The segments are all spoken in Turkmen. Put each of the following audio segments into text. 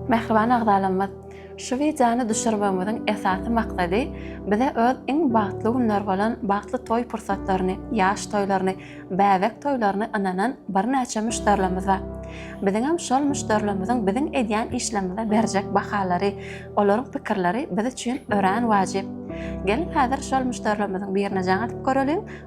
Mähriban agzalarymyz, şu wideony düşürmegimiziň esasy maksady bize öz iň bagtly günler bolan bagtly toý pursatlaryny, ýaş toýlaryny, bäbek toýlaryny ynanan birnäçe müşderilerimiz bar. Biziňem şol müşderilerimiziň biziň edýän işlerimize berjek bahalary, olaryň pikirleri biz üçin örän wajyp. Geliň häzir şol müşderilerimiziň birine jaň atyp göreliň,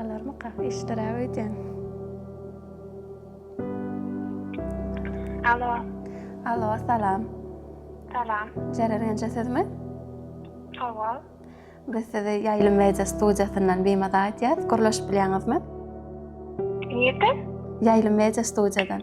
Alarmyka? Işdiräp öýdýän. Alo. Alo, salam. Salam. Jeren Enje sizmi? Hawa. Biz sizi Ýaýlym Media studiýasyndan bimada aýdýas. Gürleşip bilýäňizmi? Nirden? Ýaýlym Media studiýadan.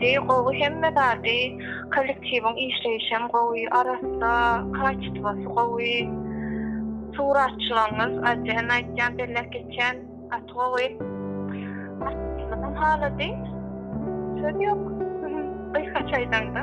Deý gowy hemme zady kollektiwiň işleýişem gowy arassa kaçitwasy gowy suratçylaňyz ajen aýtýan belläp geçýän gaty gowy aýtmyzam halady söz ýok gysgaça aýdaňda.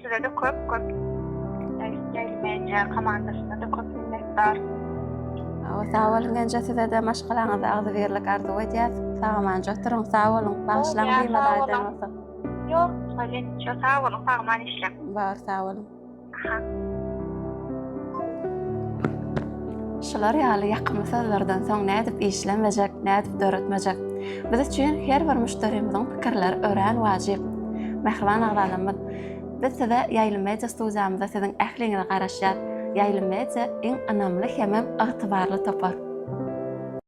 Size de köp köp Jaýlmäýjä komandasyna da köp minnetdar. Awa sag boluň Genje size de maşgalaňyza agzybirlik arzuw edýäs. Sagaman oturyň, sag boluň. Bagyşlaň beýmala aýdan bolsa. Ýok, Halil, şo sag boluň, sagman işläň. Bar, sag boluň. Aha. Şular ýaly ýakymly sözlerden soň nädip işlemejek, nädip döretmejek? Biz üçin her bir müşderimiziň pikirleri örän wajyp. Mähriban agzalarymyz, Biz size Ýaýlym Media studiýamyzda siziň ähliňize garaşýas. Ýaýlym Media iň ynamly hemem ygtybarly topar.